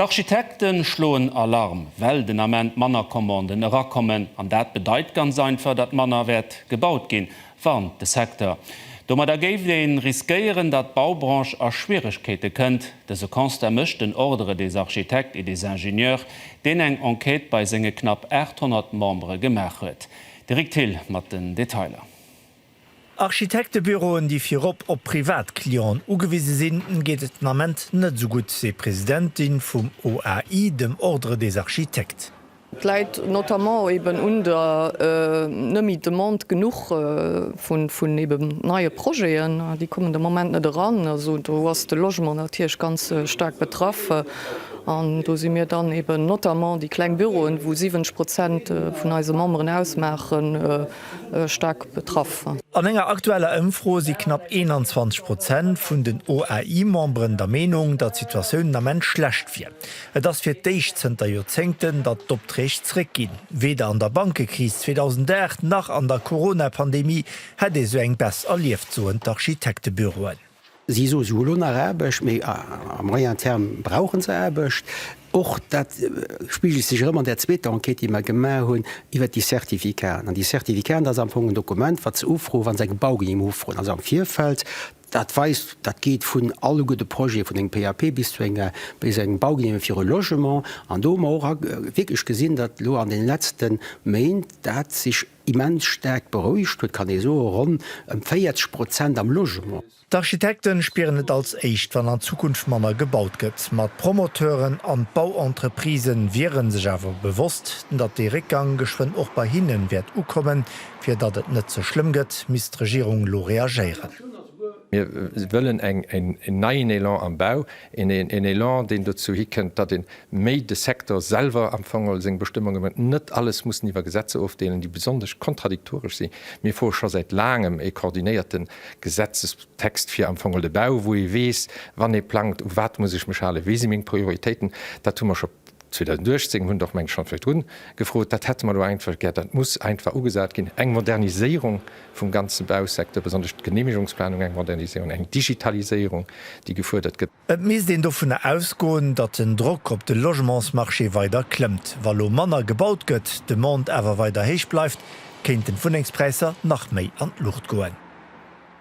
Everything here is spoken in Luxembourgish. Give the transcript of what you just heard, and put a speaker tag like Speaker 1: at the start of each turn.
Speaker 1: D'Architekte schloen Alarm, well den Ament manner Commanden erakommen. An dat bedeit ganz einfach, datt manner wäert gebaut ginn, warnt de Secteur. Domadder géif ee riskéieren, datt d'Baubranche a Schwieregkeete kënnt. Dëse Constat mécht den Ordre des architectes et des ingénieurs, deen eng Enquête bei senge knapp 800 Membere gemaach huet. De Rick Thill mat den Detailer. Architektebüroen,
Speaker 2: déi virop op privat Clienten ugewise sinn, geet et den Ament net esou gutt, seet d'Presidentin vum OAI, dem Ordre des architectes. Dat läit
Speaker 3: notamment eben un der net méi Demande genuch vun eben neie Projeten. Déi kommen de Moment net eran. Also do ass de Logement natierlech ganz staark betraff. An do si mir dann eben notamment déi kleng Büroen, wou 70 Prozent vun eise Memberen ausmaachen, staark betraff. An enger aktueller
Speaker 2: Ëmfro si knapp 21 Prozent vun den OAI-Memberen der Meenung, datt d'Situatioun den Ament schlecht wier. Et ass fir d'éischt zënter Joerzéngten, datt d'Opträg zréckginn. Weder an der Bankekris 2008 nach an der Corona-Pandemie hätt ee sou eng Baisse erlieft, soen d'Architektebüroen. Si soe
Speaker 4: souguer elo nach Aarbecht, mee à moyen terme brauche se Aarbecht. Och dat spigelt sech erëm an där zweeter Enquête, déi mer gemaach hunn iwwert déi Certificaten. An déi Certificaten, dat ass am Fong en Dokument, wat se ufroen, wa se eng Baugenehmigung ufroen, also am Virfeld. Dat weist, dat geet vun alleguerte Projete, vun engem PAP bis zu enger, bis eng Baugenehmigung fir e Logement. An do hu mer och wierklech gesinn, datt elo an deene letzte Méint dat sech, Immens staark berouegt huet, kann ee soen, ronn ëm 40 Prozent am Logement. D'Architekte
Speaker 2: spieren et als éischt, wann an Zukunft manner gebaut gëtt. Ma d'Promoteuren an d'Bauentreprisë wiere sech awer bewosst, datt dee Réckgang geschwënn och bei hinne wäert ukommen. Fir datt et net ze schlëmm gëtt, misst d'Regierung elo reagéieren. Mir
Speaker 5: wëllen en neien Elan am Bau, en Elan, deen dozou hikënnt, datt ee méi de Secteur selwer am Fong seng Bestëmmunge mécht, net alles mussen iwwer Gesetzer ofdeelen, déi besonnesch kontradiktoresch sinn. Mir froe scho säit laangem e koordinéierte Gesetzestext fir am Fong de Bau, wou ee weess, wann ee plangt, u wat muss ech mech halen, wéi si meng Prioritéiten. Dat hu mer scho 2018 hunn och Mengen schonn virdrun gefrot. Dat hätte mer elo einfach gär. Dat muss einfach ugesat ginn. Eng Moderniséierung vum ganze Bausecteur, besonnesch d'Genehmigungsplanung, eng Moderniséierung, eng Digitaliséierung, déi gefuerdert gëtt. Et misst een dovunner
Speaker 2: ausgoen, datt den Drock op de Logementsmarché weider klëmmt. Wa lo manner gebaut gëtt, d'Demande awer weider héich bleift, kéinten d'Wunnengspräisser nach méi an d'Luucht goen.